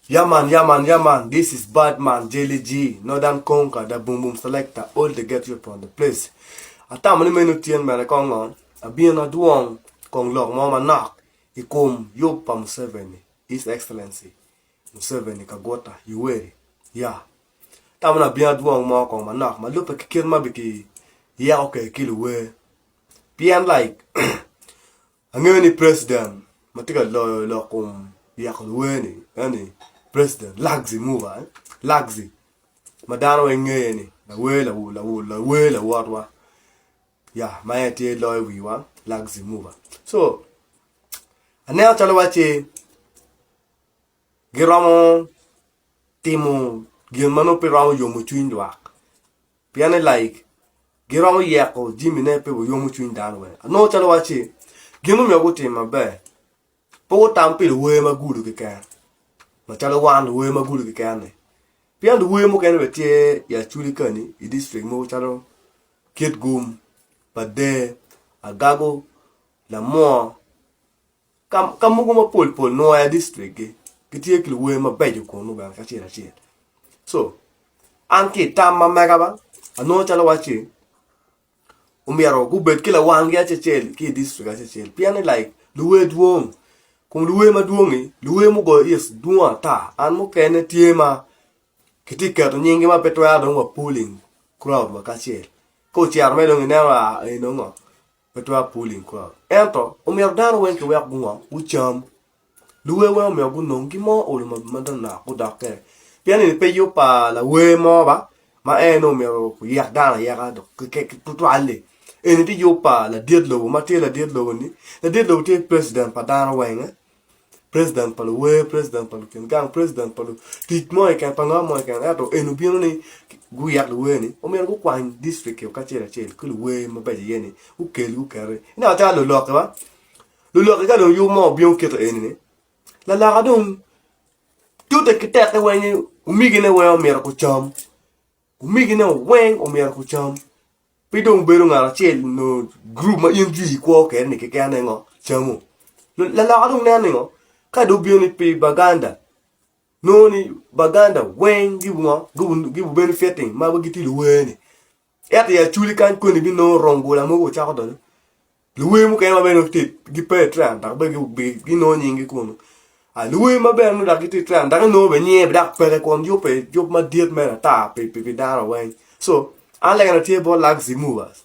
Yeah man, yeah man, yeah man, this is bad man, Jelly G, Northern Conquer, the Boom Boom Selector, all the get you from the place. Atamo ni meno tyen bene kong ngo, abino adwong kong lok mo manok i kom yub pa Museveni, His Excellency Museveni Kaguta Yoweri, ya. Atamo ni abino adwong mo kong manok ma lubbe ki kit ma biki yeko kwede ki luwer. Pien like, Angeyo ni president ma tye ka loyo lok kom yeko luwer ni eni president Lagzi Murwa, Lagzi ma dano weng ngeye ni lawer lawer lawotwa ya ma en aye tye loyo wiwa Lagzi Murwa. So aneno calo wacci giromo timo gin ma nongo pe romo yomo cwiny lwak. Pien ni laik giromo yeko jimine pe wayomo cwiny dano wene. Anongo calo wacci gin omiyo gutim maber. Pe gutam pi luwer ma gudo keken. Macalo wan luwer ma gudo keken-ni. Pien luwer mukene bene tye i Acholi kani i district mogo calo Kitgum, Pader, Agago, Lamwor, Ka mogo mapol pol nwoya i district gi gitye ki luwer mabeco kunu bene kacel acel so an ki tam ma mega ba anongo calo wacci omyero gubed ki lawang gi acel ki i district acel pien ni like luwer dwong kun luwer madwong ni luwer mugoyo is dwong ata an mukene tye ma kitye keto nying gi ma pe twero dong wa pulling crowd wa kacel ka ocero me dong ineno a eno ngo pe twero pulling crowd. Ento omyero dano weng ki wek gungo gucam. Luwer weng omyero gunong gi mo olo manok gudok kene. Pien eni pe yub pa lawer mo ba ma en ni omyero oyek dano ayeka dok tutwal-li. Eni ti yub pa ladit lobo ma tye ladit lobo-ni. Ladit lobo tye president pa dano weng-nge. president pa luwer, president pa lukin gang, president pa lutic mo keken, pa ngo mo keken. Ento en obino ni guyek luwer ni omyero gukwany district o kacel acel ki luwer mabeco iye ni gukel gukete. Ineno calo lulokke wa, lulokke ka dong yub mo obino kito eni ni laloka dong tute ki teke weng ni omigine weng omyero gucam. Gumegine weng omyero gucam. Pe dong bedo ngat acel nyo gurup ma in jwi ikwo kwede ni keken aye ngo camo. Laloka dong nen ni ngo, ka dong obino ni pi Baganda, nongo ni Baganda weng gibu ngo, gibu bedo fitting ma gitye luwer-ni. Ento i aculi kany koni binongo rung bula mogo ocako donyo. Luwer mukene ma bene gitye gipe i Trang dok bene ginongo nyinggi kunu. Luwer ma bene nongo dok gitye i Trang dok inongo bene nyinge dok peke kun yubbe yub madit mere ata pi dano weng. So, an lega na tye bot Luxy Movers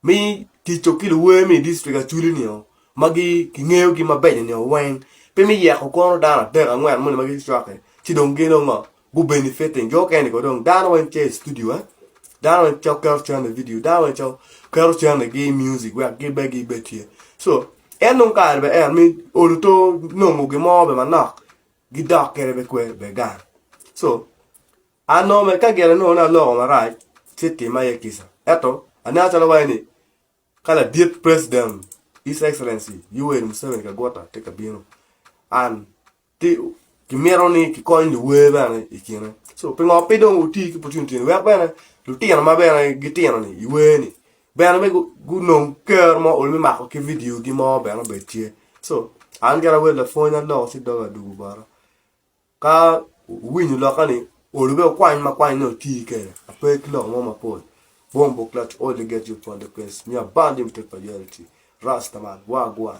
me ticco ki luwer me i dictrik Acholi-ni-o ma kingeyogi mabeco-ni weng. Pe me yeko kono dano adek angwen moni ma gicwaki ci dong gin ongo. gubenefitting jo okene ko dong dano weng tye i studio eh dano weng cok keto cene i video dano weng cok keto cene gi i music wek gin bene gin bene tye so en nongo kare bene en mi olo to nongo gin mo bene manok gidok kene bene kwer bene gang so an nongo bene ka gin anongo ni aloko marac ci tima iye kica ento aneno calo waci ni ka ladit president his excellency Yoweri Museveni Kaguta tye ka bino an kimito ni kikony luwer bene i kine so pingo pe dong wuti ki opportunity ni wek bene lutino ma bene gitino ni i wer ni bene me gunong ker mo olo me mako ki vidio gi mo bene obed tye so an gin awer lapwony aloko ci doga dugu bota ka wuwinyo loka ni olo be wukwany ma kwany ni wuti kede ape ki lok mo mapol bong buk let only get you upon the place me abound in prosperity rasta man wagwan.